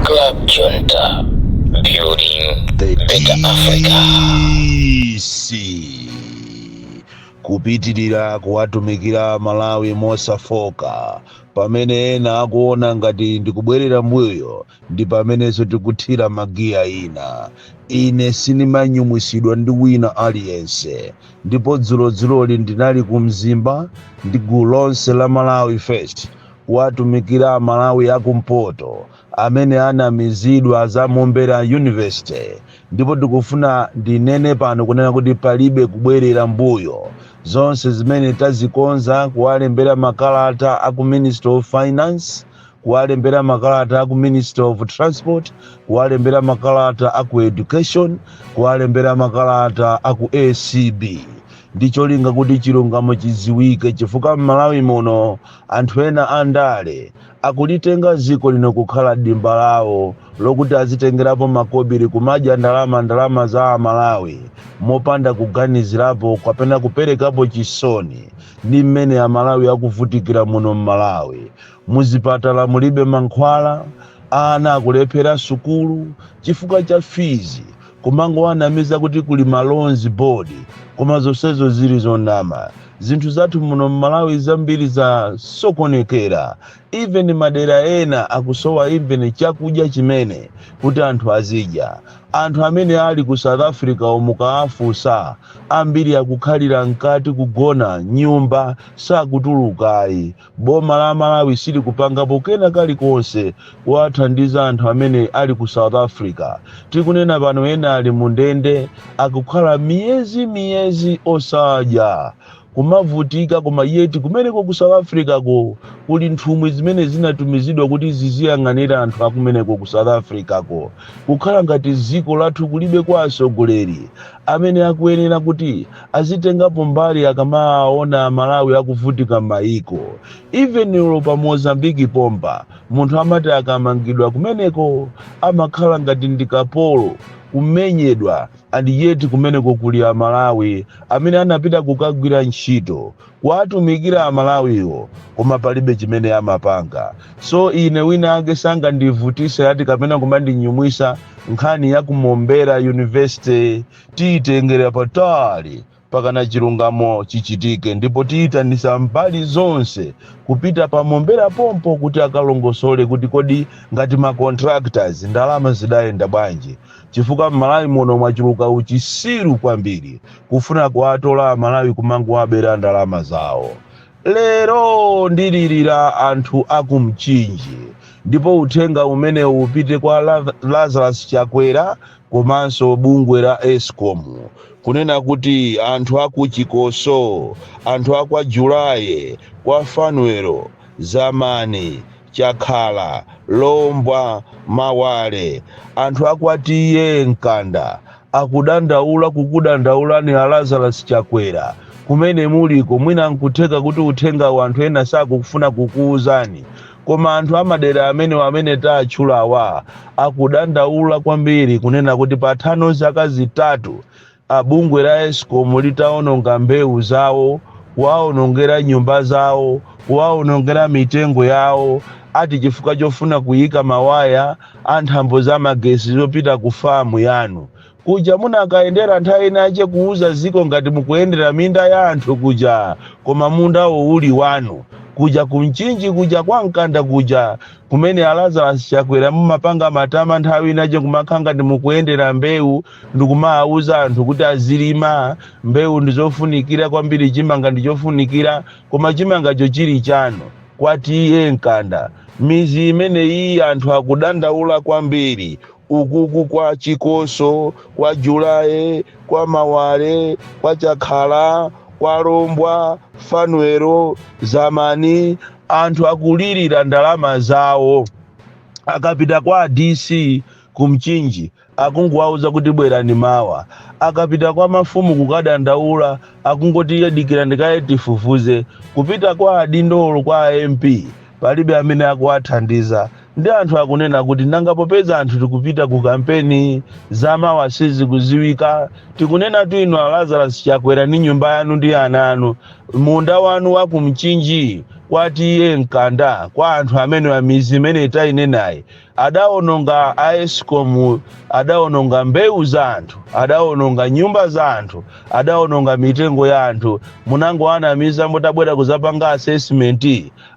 Club Junta, building the better Africa. kupitirira kuwatumikira Amalawi mosafoka pamene ena akuona ngati ndikubwerera mbuyo ndi pamenenso tikuthira magiya ina ine sinimanyumwisidwa ndi wina aliyense Ndipo dzulodzuloli ndinali ku Mzimba ndi gulu lonse la Malawi First kuwatumikira Amalawi a kumpoto amene anamizidwa za Mombera University ndipo tikufuna ndinene pano kunena kuti palibe kubwerera mbuyo. Zonse zimene tazikonza kuwalembera makalata a ku Ministry of Finance, kuwalembera makalata aku ministry of transport kuwalembera makalata aku education kuwalembera makalata aku acb ndi cholinga kuti chilungamo chiziwike chifukwa m'malawi muno anthu ena andale akulitenga ziko lino kukhala dimba lawo lokuti azitengerapo makobiri kumadya ndalama ndalama za amalawi mopanda kuganizirapo kapena kuperekapo chisoni ndi mmene amalawi akuvutikira muno m'malawi Muzipatala mulibe mankhwala, ana akulephera sukulu chifukwa cha fees, kumangowanamiza kuti kuli ma loans board koma zonsezo zili zonama. Zinthu zathu muno m'Malawi zambiri za sokonekera, even madera ena akusowa even chakudya chimene kuti anthu azidya. Anthu amene ali ku South Africa wo mukawafunsa, ambiri akukhalira mkati kugona m'nyumba sakutuluka ayi. Boma la Malawi silikupangapo kena kalikonse kuwathandiza anthu amene ali ku South Africa. Tikunena pano ena ali mu ndende akukhala miyezi miyezi osadya kumavutika koma yeti kumeneko ku South Africa ko kuli nthumwi zimene zinatumizidwa kuti ziziyang'anira anthu akumeneko ku South Africa ko kukhala ngati dziko lathu kulibe kwa asogoleri amene akuyenera kuti azitengapo mbali akamaona amalawi akuvutika m'mayiko even ulo pa mozambiki pompa munthu amati akamangidwa kumeneko amakhala ngati ndi kapolo kumenyedwa and yet kumeneko kuli amalawi amene anapita kukagwira ntchito kuwatumikira amalawiwo koma palibe chimene amapanga so ine wina ake sangandivutise ayi kapena kumandinyumwisa nkhani ya kumombera university tiyitengera patali pakana chilungamo chichitike ndipo tiyitanisa mbali zonse kupita pa Mombera pompo kuti akalongosole kuti kodi ngati ma contractors ndalama zidayenda bwanji chifukwa m'Malawi muno mwachuluka uchisiru kwambiri kufuna kuwatola Amalawi kumangowabera ndalama zawo. Lero ndililira anthu a ku Mchinji ndipo uthenga umenewu upite kwa La- Lazarus Chakwera komanso bungwe la escom kunena kuti anthu aku chikoso anthu akwa julaye kwa fanwelo zamani chakhala lombwa mawale anthu akwa TA mkanda akudandaula kukudandaulani a lazarus chakwera kumene muliko mwina nkutheka kuti uthengawu anthu ena sakufuna kukuuzani Koma anthu a madera amenewa amene tatchulawa akudandaula kwambiri kunena kuti patha pano zaka zitatu a bungwe la Escom litaononga mbewu zawo, kuwaonongera nyumba zawo, kuwaonongera mitengo yawo ati chifukwa chofuna kuyika mawaya a nthambo za magesi zopita ku farm yanu. Kuja munakayendera nthawi inace kuuza ziko ngati mukuyendera minda ya anthu kuja koma mundawo uli wanu. Kuja ku Mchinji kuja kwa Mkanda kuja kumene a Lazarus Chakwera munkapanga matama nthawi inace kumakhala ngati mukuyendera mbeu ndikumawauza anthu kuti azilima mbeu ndizofunikira kwambiri cimanga ndicofunikira koma cimangaco cili canu kwa TA Mkanda. Mizi imeneyiyi anthu akudandaula kwambiri. Ukuku kwa chikoso, kwa julaye, kwa mawale, kwa chakhala, kwa lombwa, fanwelo, zamani, anthu akulirira ndalama zawo. Akapita kwa a DC ku Mchinji akungowauza kuti bwerani mawa. Akapita kwa mafumu kukadandaula akungoti iye dikirani kaye tifufuze. Kupita kwa adindo olo kwa a MP palibe amene akuwathandiza. Ndi anthu akunena kuti nanga popeza anthu tikupita ku kampeni za mawa sizikuziwika tikunenatu inu a Lazarus Chakwera ndi nyumba yanu ndi ana anu munda wanu wa ku Mchinji kwa TA Mkanda kwa anthu amenewa mizi imene tainenayi adaononga a Escom adaononga mbewu za anthu adaononga nyumba za anthu adaononga mitengo ya anthu munangowanamiza mutabwera kuzapanga assessment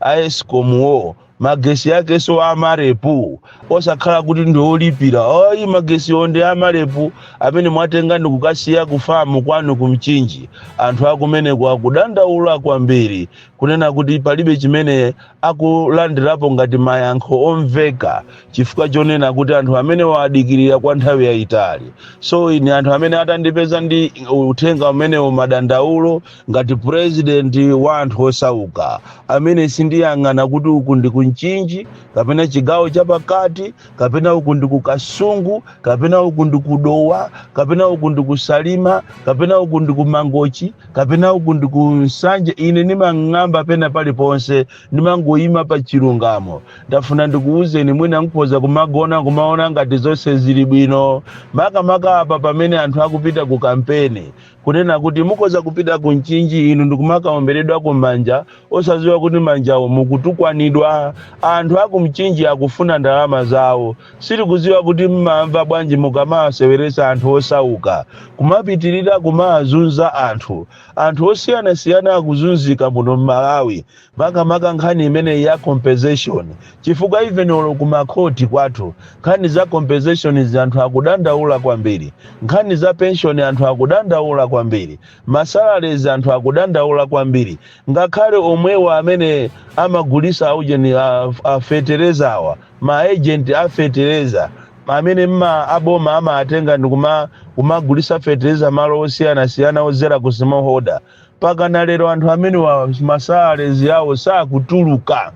a Escom wo magetsi akenso amarepu osakhala kuti ndi olipira ayi magetsi ndi amarepu amene mwatenga ndi kukasiya kufamu kwanu ku Mchinji anthu akumeneko akudandaula kwambiri kunena kuti palibe chimene akulandirapo ngati mayankho omveka chifukwa chonena kuti anthu amene waadikirira kwa nthawi yayitali so ine anthu amene atandipeza ndi uthenga umenewo madandaulo ngati purezidenti wa anthu osauka amene sindiyang'ana kuti uku ndi ku Mchinji kapena chigawo chapakati kapena uku ndi ku Kasungu kapena uku ndi ku Dowa kapena uku ndi ku Salima kapena uku ndi ku Mangochi kapena uku ndi ku Nsanje ine ndimang'amba pena paliponse ndimangoyima pa chilungamo ndafuna ndikuwuzeni mwina mukhoza kumagona kumaona ngati zonse zili bwino makamaka apa pamene anthu akupita ku kampeni Kunena kuti mukhoza kupita ku Mchinji inu ndikumakawomberedwako manja osadziwa kuti manjawo mukutukwanidwa. Anthu aku Mchinji akufuna ndalama zawo. Sitikudziwa kuti mmamva bwanji mukamawaseweretsa anthu osauka. Kumapitirira kumawazunza anthu. Anthu osiyanasiyana akuzunzika muno m'Malawi. makamaka nkhani imeneyi ya compensation chifukwa even olo ku ma court kwathu nkhani za compensation izi anthu akudandaula kwambiri, nkhani za pension anthu akudandaula kwambiri, ma salaries anthu akudandaula kwambiri, ngakhale omwewa amene amagulisa aujeni a, a fetereza awa ma agent a fetereza amene mma aboma amatenga ndi kuma kumagulisa fetereza malo osiyanasiyana kudzera ku smallholder pakana lero anthu amenewa ma salaries awo sakutuluka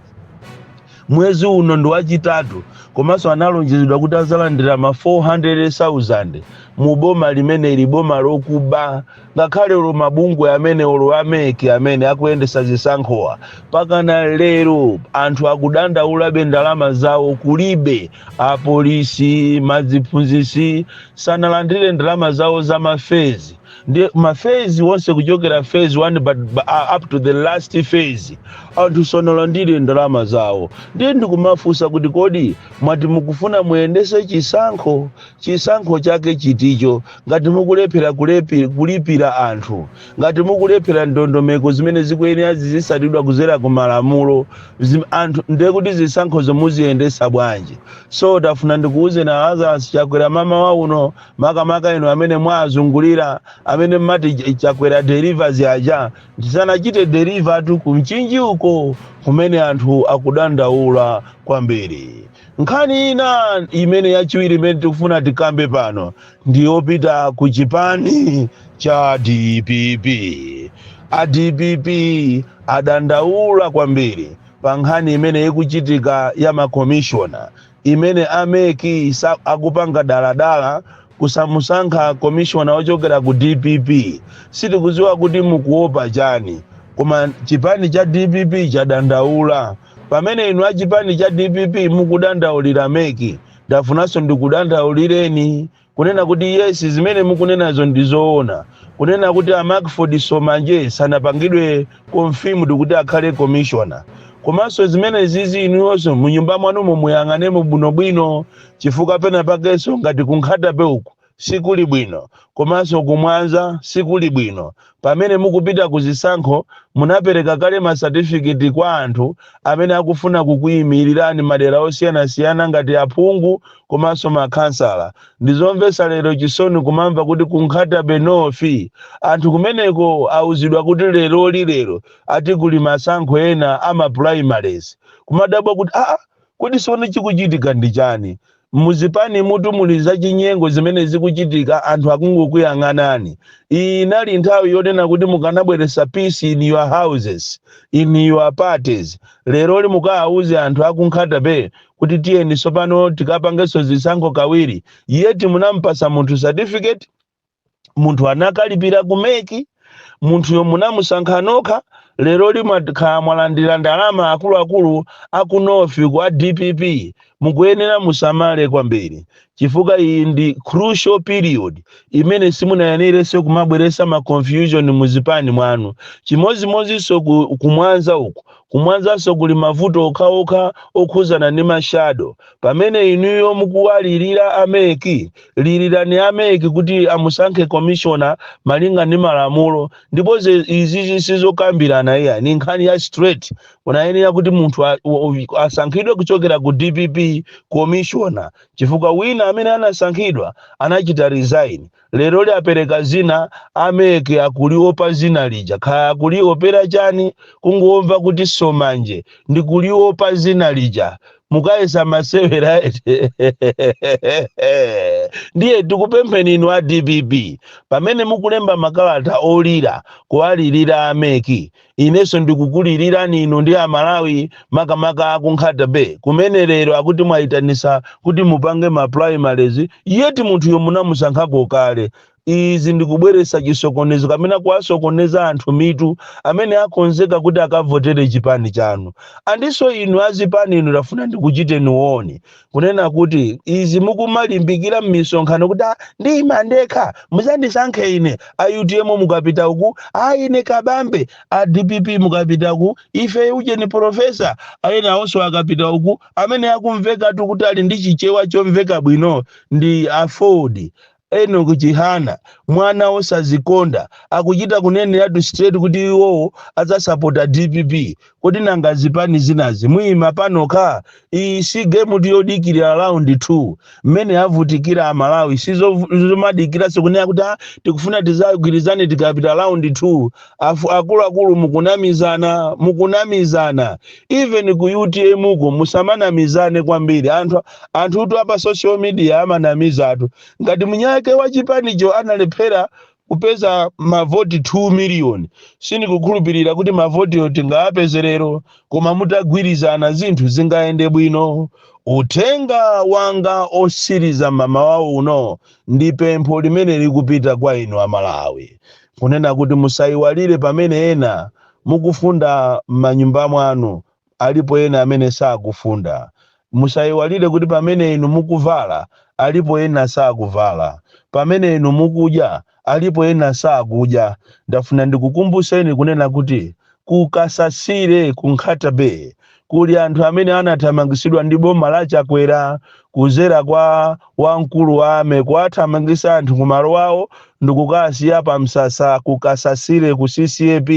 mwezi uno ndi wachitatu komanso analonjezedwa kuti adzalandira ma 400,000 mu boma limeneli boma lokuba ngakhale olo mabungwe amene olo a MEC amene akuyendesa zisankhowa pakana lero anthu akudandaulabe ndalama zawo kulibe apolisi maziphunzitsi sanalandire ndalama zawo za ma phase ndi ma phase onse kuchokera phase 1 but but, uh, up to the last phase anthu sanalandire ndalama zawo ndiye ndikumafunsa kuti kodi mwati mukufuna muyendetse chisankho chisankho chake chiticho ngati mukulephera kulepi- kulipira anthu ngati mukulephera ndondomeko zimene zikuyenera zizitsatidwa kudzera ku malamulo zim- anthu ndiye kuti zisankhozo muziyendetsa bwanji so ndafuna ndikuwuzeni a Lazarus Chakwera mmawa uno makamaka inu amene mwazungulira amene mmati chakwera delivers aja ndisanachite deliver tu kumchinji uko kumene anthu akudandaula kwambiri nkhani ina imene yachiwiri imene tikufuna tikambe pano ndiyopita ku chipani cha dpp a dpp adandaula kwambiri pa nkhani imene ikuchitika ya makomishona imene a mec akupanga daladala kusamusankha komishona wochokera ku dpp sitikudziwa kuti mukuopa chani koma chipani cha dpp chadandaula pamene inu a chipani cha dpp mukudandaulira mec ndafunanso ndikudandaulireni Kunena kuti yes zimene mukunenazo ndi zoona, kunena kuti a Mackford Somanje sanapangidwe confirmed kuti akhale commissioner. Komanso zimenezizi inuyoso mu nyumba mwanumo muyang'anemo bwinobwino chifukwa pena pakenso ngati ku Nkhata Bay uku sikuli bwino komanso ku Mwanza sikuli bwino Pamene mukupita ku zisankho, munapereka kale ma certificate kwa anthu amene akufuna kukuimilirani madera osiyanasiyana ngati aphungu komanso ma khansala. Ndizomvetsa lero chisoni kumamva kuti ku Nkhata-bay North anthu kumeneko auzidwa kuti leroli lero ati kuli masankho ena a ma primaries. Kumadabwa kuti aa kodi tsono chikuchitika ndi chani? Muzipanimutu muli zachinyengo zimene zikuchitika anthu akungokuyang'anani. Iyi inali nthawi yonena kuti mukanabweresa peace in your houses, in your parties. Leroli mukaauze anthu aku Nkhata Bay kuti tiyeni sopano tikapangeso zisankho kawiri yet munamupasa munthu certificate? munthu anakalipira ku mec munthuyo munamusankha nokha leroli mwakhala mwalandira ndalama akuluakulu aku north kwa dpp mukuyenera musamale kwambiri chifukwa iyi ndi crucial period imene simunayenerenso kumabweresa ma confusion mu zipani mwanu chimodzimodzinso kumwanza uku kumwanzanso kuli mavuto okhaokha okhudzana ndi mashado pamene inuyo mukuwalirira a mec Lirirani a mec kuti amusankhe commissioner malinga ndi malamulo ndipo ze izizi sizokambirana iyayi ndi nkhani ya straight munayenera kuti munthu asankhidwe kuchokera ku dpp commissioner chifukwa wina amene anasankhidwa anachita resign leroli apereka zina a mec akuliopa zina lija kaya akuliopera chani kungomva kuti somanje ndikuliopa zina lija mukayesa masewera ndiye tikupempheni inu a dpp pamene mukulemba makalata olira kuwalirira ameki inenso ndikukulirirani inu ndi amalawi makamaka aku nkhata bay kumene lero akuti mwayitanisa kuti mupange ma primaries yet munthuyo munamusankhako kale izi ndi kubweretsa chisokonezo kapena kuwasokoneza anthu mitu amene akonzeka kuti akavotere chipani chanu and so inu azipani inu ndafuna ndikuchiteni warn kunena kuti izi mukumalimbikira m'misonkhano kuti "Ah, ndiyima ndekha muzandisankhe ine a utm mukapita uku a ine kabambe a dpp mukapita ku ife ujeni profesa ayena awonso akapita uku amene akumveka kuti ali ndi chichewa chomveka bwino ndi aford Enock Chihana, mwana wosadzikonda, akuchita kuneneratu straight kuti iwo adzasapota dpp. Kodi nanga zipani zinazi muyima panokha? Iyi si game-tu yodikirira round 2. Mmene avutikira a Malawi si zomadikiranso kunena kuti ha tikufuna tidzagwirizane tikapita round 2. Akuluakulu mukunamizana, mukunamizana. Even ku utm ko musamanamizane kwambiri. Anthu. Anthutu a pa social media amanamizatu. Ngati mwiniwake wa chipanicho analephera kupeza mavoti 2 miliyoni, sindikukhulupirira kuti mavotiwo tingawapeze lero. Koma mutagwirizana zinthu zingayende bwino. Uthenga wanga otsiriza mamawa uno ndi pempho limene likupita kwa inu a Malawi. Kunena kuti musaiwalire pamene ena mukufunda m'manyumba mwanu Alipo ena amene sakufunda. Musaiwalire kuti pamene inu mukuvala, alipo ena sakuvala. Pamene inu mukudya, alipo ena sakudya. Ndafuna ndikukumbutseni kunena kuti ku Kasasire ku Nkhata Bay kuli anthu amene anathamangitsidwa ndi boma la Chakwera kudzera kwa wamkulu wa Army kuwathamangitsa anthu ku malo awo ndikukawasiya pa msasa ku Kasasire ku CCAP,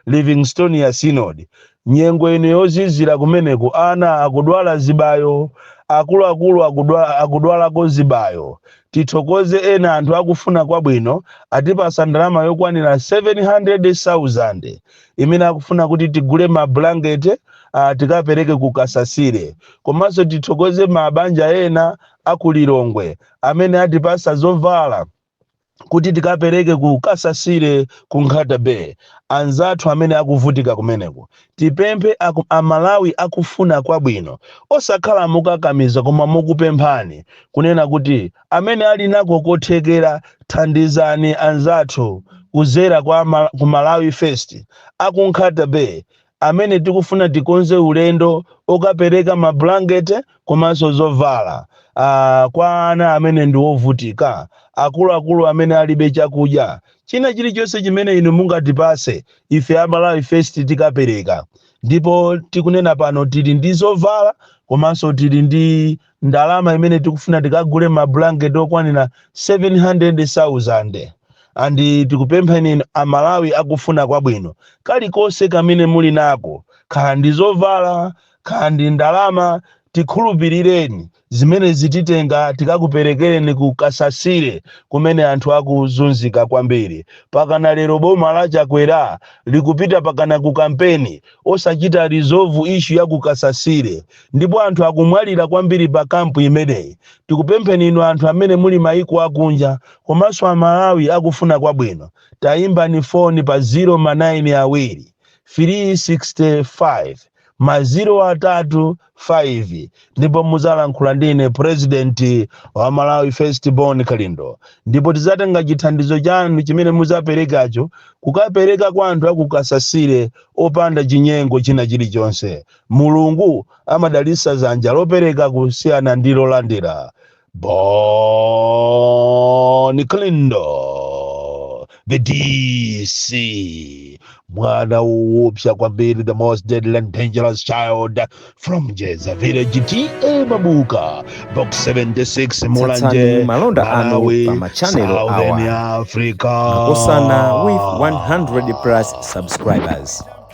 Livingstonia Synod. Nyengo ino yozizira kumeneko ana akudwala zibayo, akuluakulu akudwalako zibayo. Tithokoze ena anthu akufuna kwabwino atipasa ndalama yokwanira 700,000 imene akufuna kuti tigule ma blanket tikapereke ku Kasasire. Komanso tithokoze ma banja ena a ku Lilongwe amene atipasa zovala. kuti tikapereke ku Kasasire ku Nkhata Bay anzathu amene akuvutika kumeneko. Tipemphe a, a Malawi akufuna kwabwino osakhala mokakamiza koma mokupemphani kunena kuti amene ali nako kothekera thandizani anzathu kudzera kwa Mal ku Malawi First a ku Nkhata Bay amene tikufuna tikonze ulendo okapereka mablanketi komanso zovala uh, kwa ana amene ndi ovutika, akuluakulu amene alibe chakudya, china chilichonse chimene inu mungatipase ife a Malawi First tikapereka. Ndipo tikunena pano tili ndi zovala komanso tili ndi ndalama imene tikufuna tikagule mablanketi okwanira 700,000 and tikupempheni amalawi akufuna kwabwino kalikonse kamene muli nako khala ndi zovala khala ndi ndalama tikhulupirireni zimene zititenga tikakuperekereni ku kasasire kumene anthu akuzunzika kwambiri pakana lero boma la chakwera likupita pakana ku kampeni osachita resolve issue ya ku kasasire ndipo anthu akumwalira kwambiri pa camp imeneyi. Tikupempheni inu anthu amene muli maiko akunja komanso a Malawi akufuna kwabwino, tayimbani phone pa 0 ma 9 awiri, 3 65 ma 0 atatu 5 ndipo muzalankhula ndi ine president wa Malawi First Bon Kalindo ndipo tizatenga chithandizo chanu chimene muzaperekacho kukapereka kwa anthu aku Kasasire opanda chinyengo china chilichonse. Mulungu amadalitsa dzanja lopereka kusiyana ndi lolandira. Bon Kalindo, the DC, mwana woopsa kwambiri, the most deadly and dangerous child from Jeza Village, TA Mabuka, Box 76, Mulanje, Malawi, Southern Africa. Tsatsani malonda anu pa machanelo awa Makosana with 100 plus subscribers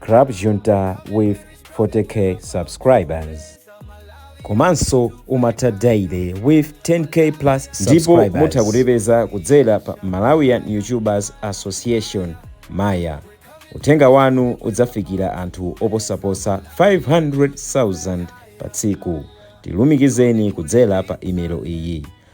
Club Junta with 40k subscribers komanso umatha daily with 10k plus subscribers ndipo mutha kutipeza kudzera pa malawian youtubers association maya uthenga wanu udzafikira anthu oposa 500,000 pa tsiku tilumikizeni kudzera pa imelo iyi